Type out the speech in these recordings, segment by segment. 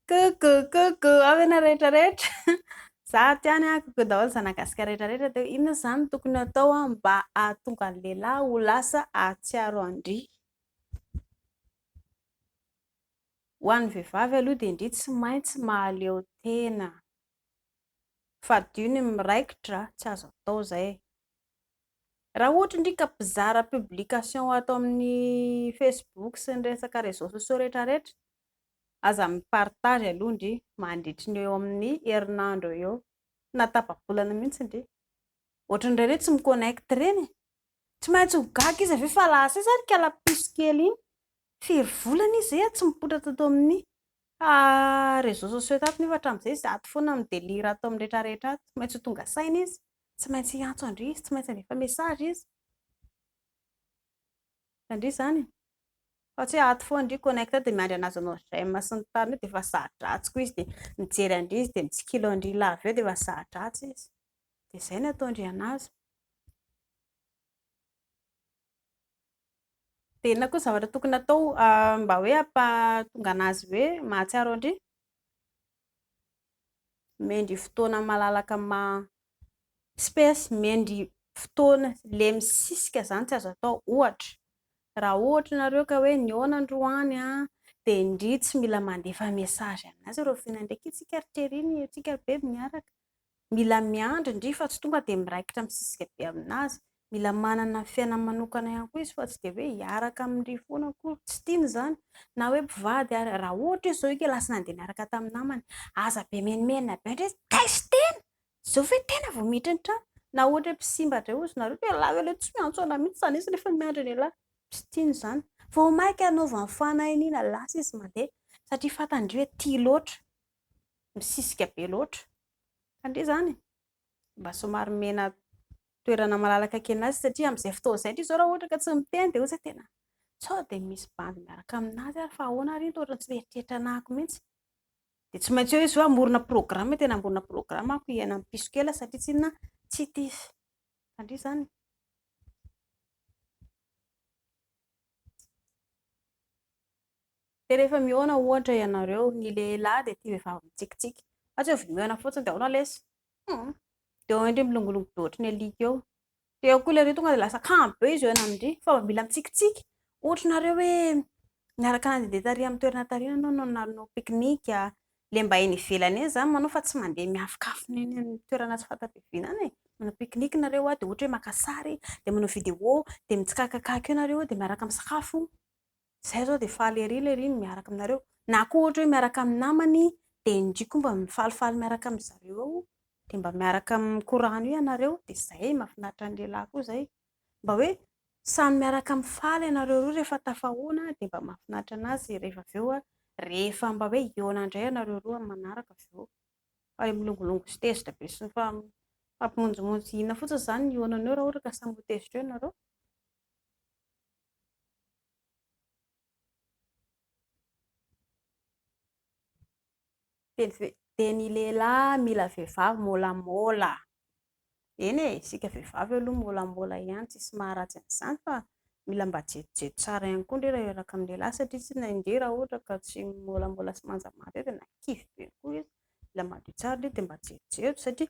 Coucou, coucou, avy ianareo rehetra rehetra. Za aty any a, coucou daholo zanagasika rehetra rehetra teo. Inona izany tokony atao a mba ahatonga ny lehilahy ho lasa ahatsiaro an-dry? Ho an'ny vehivavy aloha dia ndry tsy maintsy mahaleo tena. Fadio ny miraikitra, tsy azo atao izay. Raha ohatra ndry ka mpizara publication ato amin'ny facebook sy ny resaka réseaux sociaux rehetra rehetra, aza mi partage aloha ndry mandritry ny eo amin'ny herinandro eo eo, na tapa-bolana mihintsy ndry, ohatran'ireny hoe tsy mi connect ireny e! tsy maintsy ho gaga izy avy eo fa lasa izy ary kalapiso kely iny, firy volana izy ee tsy mipoitra tato amin'ny réseaux sociaux tato nefa hatramin'izay izato foana mi delire ato amin'ny rehetra rehetra ato, tsy maintsy ho tonga saina izy. Tsy maintsy hiantso an-dry izy, tsy maintsy handefa message izy. Hitan-dry izany e? Fa tsy hoe ato foana an-dry connecté dia miandry an'azy hanao j'aime sy ny tariny eo dia efa za-dratsy koa izy dia mijery an-dry izy dia mitsikilo an-dry lava eo dia efa za-dratsy izy. Dia izay no ataon-dry an'azy. Dia inona koa ny zavatra tokony hatao mba hoe hampahatonga an'azy hoe mahatsiaro an-dry? Mendry fotoana malalaka ma space mendry fotoana le misisika zany tsy azo atao ohatra raha ohatra nareo ka hoe nihaona androany a de ndry tsy mila mandefa message aminazy reo f'indraindray kitsika ry chérie ny antsika ry bebe miaraka Mila miandry ndry fa tsy tonga dia miraikitra misisika be aminazy. Mila manana ny fiainany manokana ihany koa izy fa tsy dia hoe hiaraka amindry foana akory. Tsy tiany izany na hoe mpivady ary. Raha ohatra izy izao eka lasa nandeha niaraka tamin'ny namany, aza be menomenona be ndry izy, taizo tena! Izao ve tena vao miditra ny trano? Na ohatra hoe mpisimba indray ozy nareo, dia elah elah tsy miantso anah mihitsy izany izy rehefa miandry anie lahy. Tsy tiany izany. Vao mainka anaovany fanahiniana, lasa izy mandeha satria fantany ndry hoe tia loatra. misisika be loatra. Tandria izany e! Mba somary omena toerana malalaka kely azy satria amin'izay fotoana izay indrindra izao raha ohatra ka tsy miteny dia ohatry ny hoe tena sao dia misy bandy miaraka amin'azy ary fa ahoana ary iny toa ohatran'ny tsy mieritreritra anà ako mihitsy. Dia tsy maintsy eo izy hoe hamorona programme, tena hamorona programme ako hiaina amin'ny piso kely aho satria tsy inona, tsy tia izy. Tandria izany e! Dia rehefa mihaona ohatra ianareo, ny lehilahy dia tia vehivavy mitsikitsiky. Fa tsy hoe vao mihaona fotsiny dia ahoana lesy? Hum! Dia eo indry milongilongy be ohatry ny alika eo. Dia eo koa ilay riringa dia lasa kanjo be izy eo ianao indry fa vao mila mitsikitsiky. Ohatra nareo hoe niaraka nandehandeha tary amin'ny toerana tary iny ianao no nanao pique-nique a! Ilay mba eny ivelany eny izany manao fa tsy mandeha miafonkafona eny amin'ny toerana tsy fanta-piaviana any e! Manao pique-nique nareo dia ohatra hoe maka sary, dia manao vidéo, dia mitsikakakaka eo nareo dia miaraka misakafo. Izay izao dia faly ery lery ny miaraka aminareo. Na koa ohatra hoe miaraka amin'ny namany dia indry koa mba mifalifaly miaraka amin'ny zareo ao dia mba miaraka mikorano ianareo dia izay e, mahafinaritra ny lehilahy koa izay mba hoe samy miaraka mifaly ianareo roa rehefa tafahoana dia mba mahafinaritra anazy rehefa avy eo rehefa mba hoe hihaona indray ianareo roa amin'ny manaraka avy eo fa ilay milongolongo sy tezitra be sy mifampimonjomonjo sy inona fotsiny izany ny hihaonana eo raha ohatra ka samy ho tezitra eo ianareo. Dia ny lehilahy mila vehivavy môlamôla. Eny e, isika vehivavy aloha môlamôla ihany, tsisy maharatsy an'izany fa mila mba jejojejo tsara ihany koa indray raha hiaraka amin'ny lehilahy satria tsy inona indray raha ohatra ka tsy môlamôla sy manjamaso eo dia na kivy be koa izy, mila madio tsara aloha dia mba jejojejo satria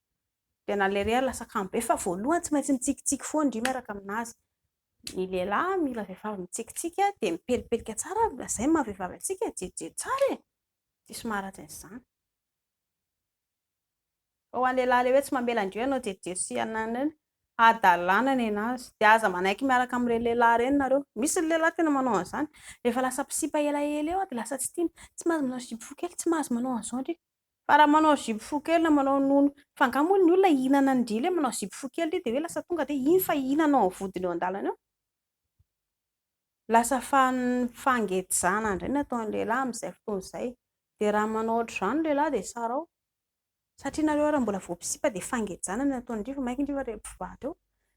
dia na ilay reha lasa kamo be fa voalohany tsy maintsy mitsikitsiky foana indry miaraka amin'azy ny lehilahy mila vehivavy mitsikitsiky a dia mipelipelika tsara ary izay maha vehivavy antsika e jejojejo tsara e diso maharatsy an'izany fa ho an'ny lehilahy ilay hoe tsy mamela indreo ianao jejojejo sy ananany hadalana ny anazy dia aza manaiky miaraka amin'ireny lehilahy ireny nareo misy ny lehilahy tena manao an'izany rehefa lasa mpisipa elaela eo dia lasa tsy tiany tsy mahazo manao zipo fohy kely tsy mahazo manao an'izao indrindra Fa raha manao zipo fohy kely na manao nono, fa angaha moa ny olona hihinana ny dila eo manao zipo fohy kely ity dia hoe lasa tonga dia iny fa hihinana ao amin'ny vodiny eo an-dalana eo? Lasa fangejana indray ny ataon'ny lehilahy amin'izay fotoana izay. Dia raha manao ohatr'izany ny lehilahy dia sarao. Satria nareo ary mbola vao mpisipa dia fangejana no ataondry fa mainka ndry fa rehefa mpivady eo.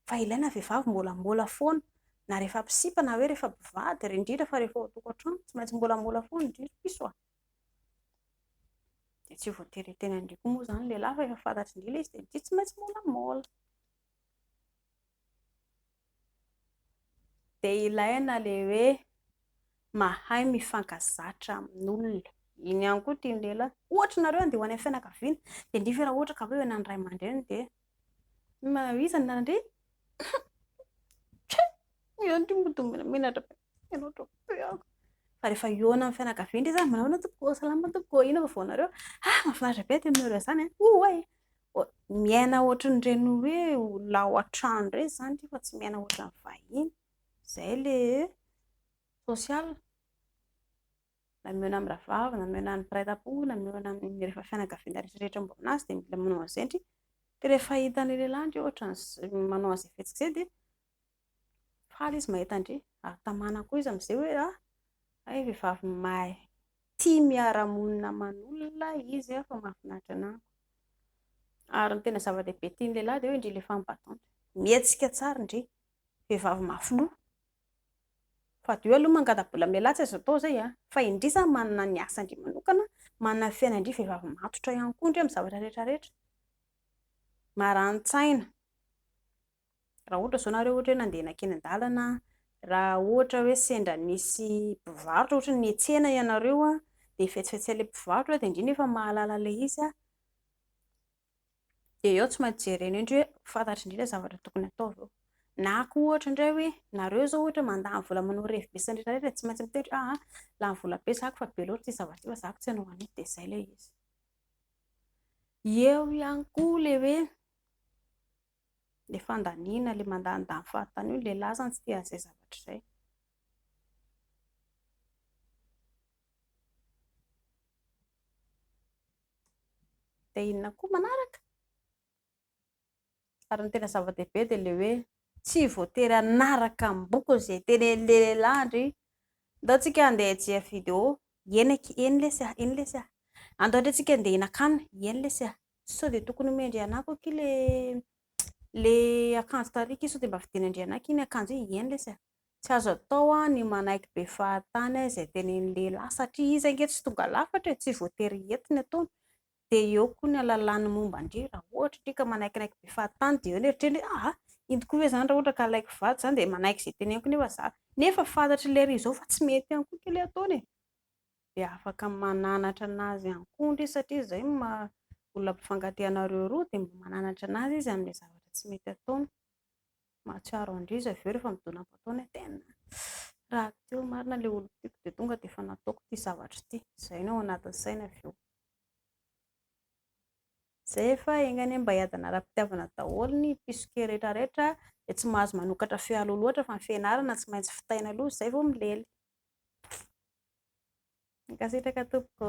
Fa ilaina ny vehivavy mbolambola foana na rehefa mpisipa na hoe rehefa mpivady ary indrindra fa rehefa ao an-tokantrano tsy maintsy mbolambola foana indrindra. Pissoa. Dia tsy voatery hiteny an-dry koa moa izany ny lehilahy fa efa fantatry ny ilay izy dia ny tia tsy maintsy molamola. Dia ilaina ilay hoe mahay mifankazatra amin'olona. Iny ihany koa tian'ny lehilahy. Ohatra ianareo handeha ho any amin'ny fianakaviana dia nefa raha ohatra ka hoe eo anan'ny ray aman-dreniny dia Maha iza ny nandre? Tchou! Ianao ty mody menatra be. Ianao to be ah. Fa rehefa eo amin'ny fianakaviana izy, manao ahoana tompoko? Salama tompoko, inona vaovao anareo? Ah, mahafinaritra be aty aminareo izany an. Oay! Miaina ohatran'ireny hoe olona ao an-trano indray izany ity fa tsy miaina ohatran'ny vahiny. Izay ilay social. na mihaona amin'ny rahavavy, na mihaona amin'ny mpiray tampo, na mihaona amin'ny rehefa fianakaviana rehetra rehetra momba anazy dia mila manao an'izay ndry, dia rehefa hitan'ny lehilahy ndry ohatra ny manao an'izay fihetsika izay dia faly izy mahita ndry, ary tamana koa izy amin'izay hoe ah, hay vehivavy mahay tia miara-monina aman'olona izy ah, fa mahafinaritra ny amiko, ary ny tena zava-dehibe tian'ny lehilahy dia hoe ndry les femmes battantes, mihetsika tsara ndry, vehivavy mafy loha. Fadio aloha mangatabola mialà tsy azo atao zay a! fa indry zany manana ny asandry manokana, manana ny fiainandry vehivavy matotra ihany koa indry amin'ny zavatra rehetra rehetra, marani-tsaina, raha ohatra zao nareo ohatra hoe nandeha nankeny an-dalana, raha ohatra hoe sendra nisy mpivarotra ohatra ny nihetsena ianareo dia fetsifetsy an'ilay mpivarotra dia indry no efa mahalala ilay izy a! dia eo tsy maintsy jerena eo indray hoe fantatry indray ilay zavatra tokony ataovy eo. Na koa ohatra indray hoe nareo izao ohatra mandany vola manao revy be sendretra rehetra tsy maintsy miteny hoe ah lany vola be zako fa be loatra ity zavatra ity fa zako tsy hanao an'io dia izay ilay izy. Eo ihany koa ilay hoe ilay fandaniana ilay mandanindany fahatany io ilay lasa tsy tia an'izay zavatra izay. Dia inona koa manaraka? Ary ny tena zava-dehibe dia ilay hoe tsy voatery hanaraka ny bokony izay tenenin'ilay lehilahy an-dry. Ndao tsika handeha hijery video, eny aky, eny lesy a, eny lesy a. Andao re tsika handeha hihinan-kanina, eny lesy a. Sao dia tokony homen-dry anako aky ilay ilay akanjo tariako iny sao dia mba vidian'Andrianaka iny akanjo iny, eny lesy a. Tsy azo atao ny manaiky be fahatany izay tenenin'ny lehilahy satria izy ange tsy tonga lafatra e, tsy voatery hiety ny ataony, dia eo koa ny alalany momba an-dry, raha ohatra indry ka manaikinaiky be fahatany dia eo ny eritreriny hoe aa, inty koa ve izany raha ohatra ka alaiko vady izany dia manaiky izay teneniko nefa za, nefa fantatry lery izao fa tsy mety ihany koa ity le ataony e, dia afaka mananatra anazy ihany koa ndry satria izay no maha olona mpifankatia anareo roa dia mba mananatra anazy izy amin'ilay zavatra tsy mety ataony. Mahatsiaro an'ireo izy avy eo rehefa midona am-potoana hoe tena raha teo marina ilay olon-tiako dia tonga dia efa nataoko ity zavatra ity. Izay no ao anatin'ny sainy avy eo. Izay fa enga anie mba hiadana ara-pitiavana daholo ny mpisoke rehetrarehetra dia tsy mahazo manokatra feo aloha loatra fa ny fianarana tsy maintsy fitaina aloha izay vao milely. Mankasitraka tompoko.